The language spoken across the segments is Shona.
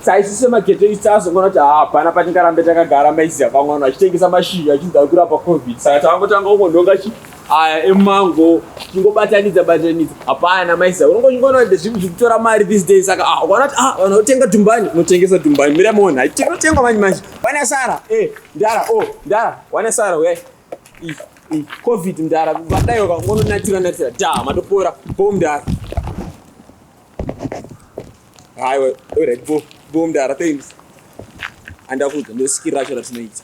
taisise magete isu taazongoona kuti hapana patingarambe takagara maiziva vamwe vanhu vachitengesa mashizha achinzi ari kurapa covid saka tavangotanga kungonhonga chi aya emango chingobatanidza batanidza hapana maiziva unongochingoona kuti zvinhu zviri kutora mari this day saka ah, ukaona kuti ah, vanhu votenga dumbani unotengesa dumbani mira mona hatinotengwa manje manje wane sara e eh, ndara o oh, ndara wane sara we covid mdara vadaiwa kangononatira natira da matopora po mdara haiwa orit go go mdara thanks andakuudza ndosikira racho ratinoita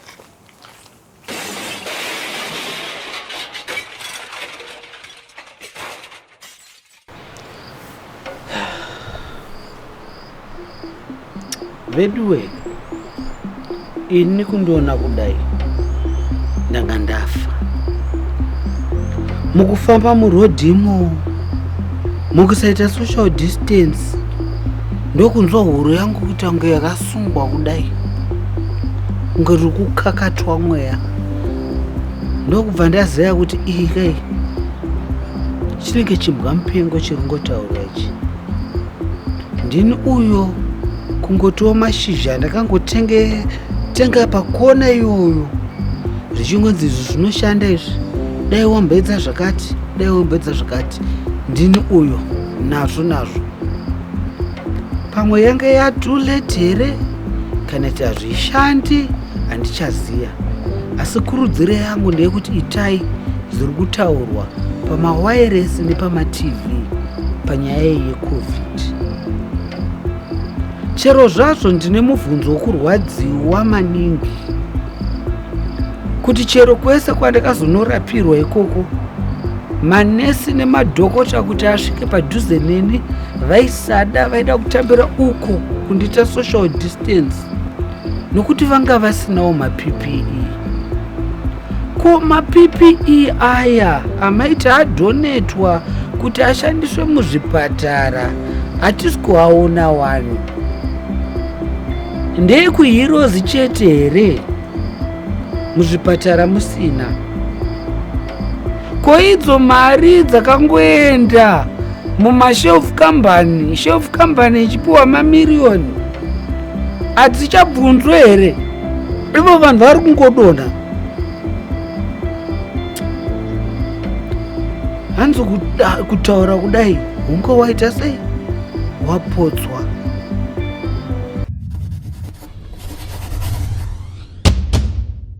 veduwe ini kundiona kudai ndanga ndafa mukufamba murodhi imo mukusaita social distance ndokunzwa huro yangu kuita kunge yakasungwa kudai kunge riri kukakatwa mweya ndokubva ndazeya kuti iyi kai chinenge chimbwa mupengo chiri ngotaura ichi ndini uyo kungotiwo mashizha ndakangotenge tenga pakona iyoyo zvichingonzi izvi zvinoshanda izvi dai wamboedza zvakati dai wamboedza zvakati ndini uyo nazvo nazvo pamwe yange yatulate here kana ti hazvishandi handichaziya asi kurudziro yangu ndeyekuti itai zviri kutaurwa pamawairesi nepamatv panyaya yecovid chero zvazvo ndine mubvunzo wokurwadziwa maningi kuti chero kwese kwandakazonorapirwa ikoko manesi nemadhokota kuti asvike padhuze neni vaisada vaida kutambira uko kundiita social distance nokuti vanga vasinawo mappe ko mappe aya amaiti adhonetwa kuti ashandiswe muzvipatara hatisi kuaona wani ndeyekuhirozi chete here muzvipatara musina ko idzo mari dzakangoenda mumashelf company shelf company ichipiwa mamiriyoni hadzichabvunzwe here ivo vanhu vari kungodonha hanzi kutaura kudai hunge waita sei wapodzwa